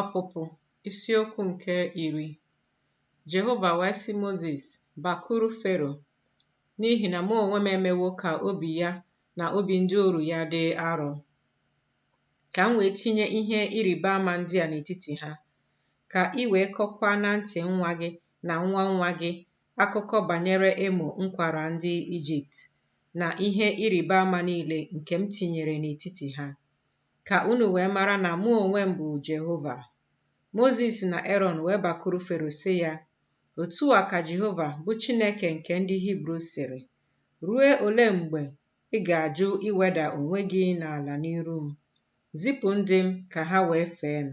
Ọpụpụ isiokwu nke iri Jehova wee sị Mozis, Bakuru Fero, n'ihi na mụ onwe m emewo ka obi ya na obi ndị oru ya dị arọ, ka m wee tinye ihe ịrịba ama ndị a n'etiti ha, ka ị wee kọkwaa na ntị nwa gị na nwa nwa gị akụkọ banyere emo m kwara ndị Ijipt na ihe ịrịba ama niile nke m tinyere n'etiti ha, ka unu wee mara na mụ onwe m bụ Jehova. Mozis na Erọn wee bakuru Fero sị ya, Otu a ka Jehova, bụ Chineke nke ndị Hibru sịrị, Ruo ole mgbe ị ga-ajụ iweda onwe gị n'ala n'iru m? Zipụ ndị m ka ha wee fee m.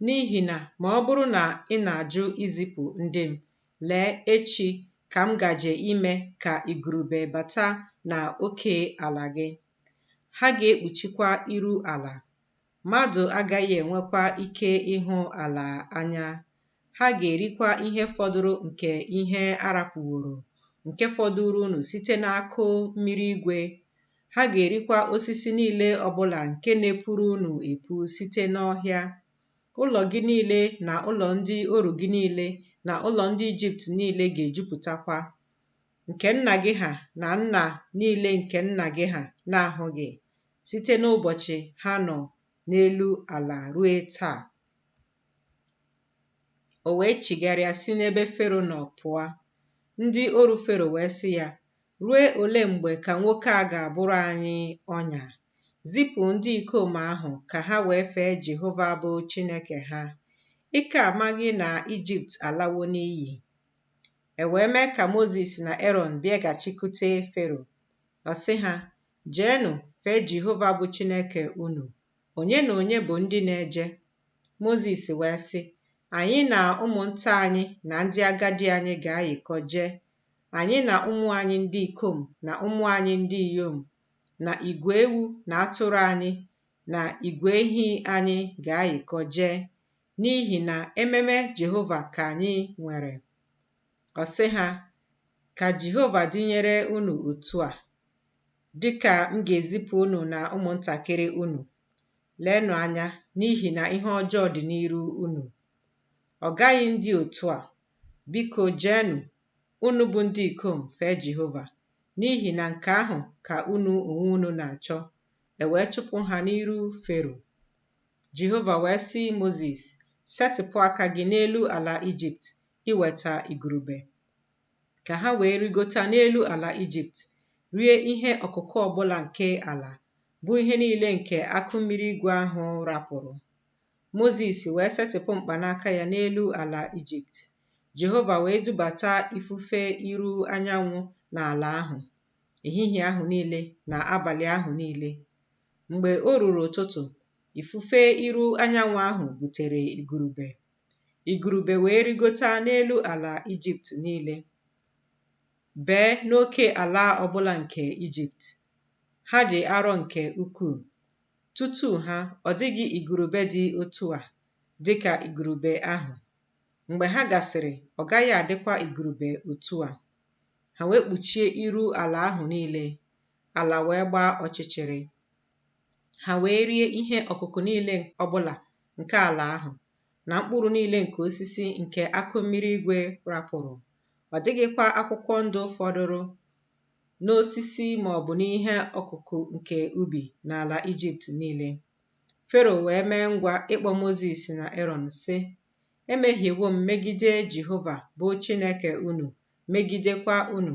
N'ihi na ma ọ bụrụ na ị na-ajụ izipụ ndị m, lee, echi ka m gaje ime ka igurube bata na oke ala gị, ha ga-ekpuchikwa iru ala, mmadụ agaghị enwekwa ike ịhụ ala anya, ha ga-erikwa ihe fọdụrụ nke ihe arapụworo, nke fọdụrụ unu site n'akụ mmiri igwe, Ha ga-erikwa osisi niile ọbụla nke na-epuru unu epu site n'ọhịa. Ụlọ gị niile na ụlọ ndị oru gị niile na ụlọ ndị Ijipt niile ga-ejupụtakwa, nke nna gị ha na nna niile nke nna gị ha na-ahụghị, site n'ụbọchị ha nọ n'elu ala ruo taa. O wee chigharịa si n'ebe Fero nọ pụọ. Ndị oru Fero wee sị ya, Ruo ole mgbe ka nwoke a ga-abụrụ anyị ọnya? Zipụ ndị ikom ahụ ka ha wee fee Jehova bụ Chineke ha. Ị ka amaghị na Ijipt alawo n'iyi? E wee mee ka Mozis na Erọn bịaghachikwute Fero. Ọ sị ha, Jeenụ, fee Jehova bụ Chineke unu. Onye na onye bụ ndị na-eje? Mozis wee sị, Anyị na ụmụnta anyị na ndị agadi anyị ga-ayịkọ jee, anyị na ụmụ anyị ndị ikom na ụmụ anyị ndị inyom na igwe ewu na atụrụ anyị na igwe ehi anyị ga-ayịkọ jee, n'ihi na ememe Jehova ka anyị nwere. Ọ sị ha, Ka Jehova dịnyere unu otu a, dị ka m ga-ezipụ unu na ụmụntakịrị unu. Leenụ anya, n'ihi na ihe ọjọọ dị n'iru unu. Ọ gaghị adị otu a, Biko jeenụ, unu bụ ndị ikom, fee Jehova, n'ihi na nke ahụ ka unu onwe unu na-achọ. E wee chụpụ ha n'iru Fero. Jehova wee sị Mozis, Setịpụ aka gị n'elu ala Ijipt iweta igurube. Ka ha wee rigota n'elu ala Ijipt, rie ihe ọkụkụ ọbụla nke ala, bụ ihe niile nke akụ mmiri igwe ahụ rapụrụ. Mozis wee setịpụ mkpanaka ya n'elu ala Ijipt, Jehova wee dubata ifufe iru anyanwụ n'ala ahụ ehihie ahụ niile na abalị ahụ niile. Mgbe o ruru ụtụtụ, ifufe iru anyanwụ ahụ butere igurube. Igurube wee rigota n'elu ala Ijipt niile, bee n'oke ala ọbụla nke Ijipt. Ha dị arọ nke ukwuu, Tutu ha, ọ dịghị igurube dị otu a dị ka igurube ahụ. Mgbe ha gasịrị, ọ gaghị adịkwa igurube otu a. Ha wee kpuchie iru ala ahụ niile, ala wee gbaa ọchịchịrị. Ha wee rie ihe ọkụkụ niile ọbụla nke ala ahụ, na mkpụrụ niile nke osisi nke akụ mmiri igwe rapụrụ. Ọ dịghịkwa akwụkwọ ndụ fọdụrụ n'osisi ma ọ bụ n'ihe ọkụkụ nke ubi n'ala Ijipt niile. Fero wee mee ngwa ịkpọ Mozis na Erọn, sị, Emehiewo m megide Jehova bụ Chineke unu, megidekwa unu.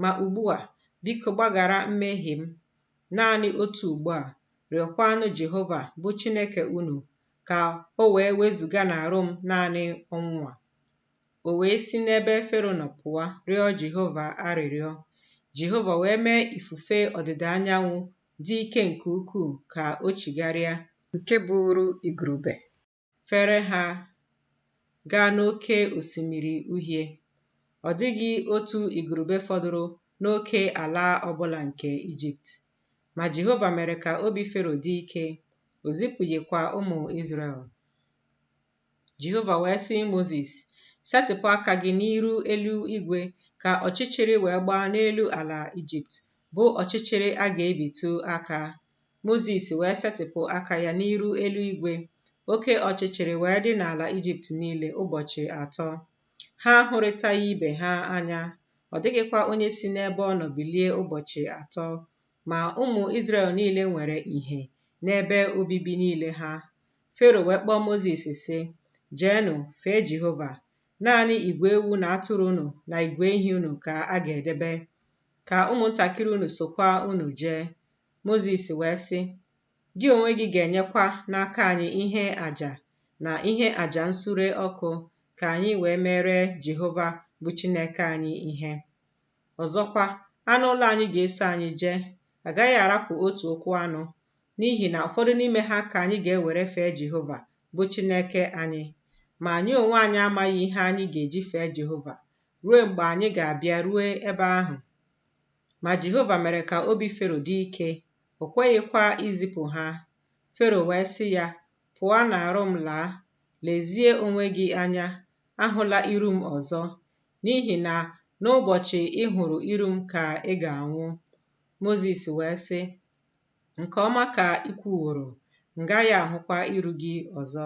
Ma ugbu a, biko gbaghara mmehie m naanị otu ugbo a, rịọkwanụ Jehova bụ Chineke unu ka o wee wezuga n'arụ m naanị ọnwụ a. O wee si n'ebe Fero nọ pụọ rịọ Jehova arịrịọ. Jehova wee mee ifufe ọdịda anyanwụ dị ike nke ukwuu ka o chigharịa, nke buuru igurube fere ha gaa n'Oke Osimiri Uhie. Ọ dịghị otu igurube fọdụrụ n'oke ala ọ bụla nke Ijipt. Ma Jehova mere ka obi Fero dị ike, o zipụghịkwa ụmụ Izrel. Jehova wee sị Mozis, Setịpụ aka gị n'iru elu igwe ka ọchịchịrị wee gbaa n'elu ala Ijipt, bụ ọchịchịrị a ga-ebitụ aka. Mozis wee setịpụ aka ya n'iru elu igwe, oke ọchịchịrị wee dị n'ala Ijipt niile ụbọchị atọ. Ha ahụrịtaghị ibe ha anya, ọ dịghịkwa onye si n'ebe ọ nọ bilie ụbọchị atọ. Ma ụmụ Izrel niile nwere ìhè n'ebe obibi niile ha. Fero wee kpọọ Mozis, sị, Jeenụ, fee Jehova. Naanị igwe ewu na atụrụ unu na igwe ehi unu ka a ga-edebe. Ka ụmụntakịrị unu sokwa unu jee. Mozis wee sị, Gị onwe gị ga-enyekwa n'aka anyị ihe aja na ihe aja nsure ọkụ ka anyị wee meere Jehova bụ Chineke anyị ihe. Ọzọkwa, anụ ụlọ anyị ga-eso anyị jee. A gaghị arapụ otu ụkwụ anụ, n'ihi na ụfọdụ n'ime ha ka anyị ga-ewere fee Jehova, bụ Chineke anyị. Ma anyị onwe anyị amaghị ihe anyị ga-eji fee Jehova ruo mgbe anyị ga-abịa ruo ebe ahụ. Ma Jehova mere ka obi Fero dị ike, o kweghịkwa izipụ ha. Fero wee sị ya, Pụọ n'arụ m laa, lezie onwe gị anya, ahụla iru m ọzọ. n'ihi na n'ụbọchị ị hụrụ iru m ka ị ga-anwụ. Mozis wee sị, Nke ọma ka i kwuworo, m gaghị ahụkwa iru gị ọzọ.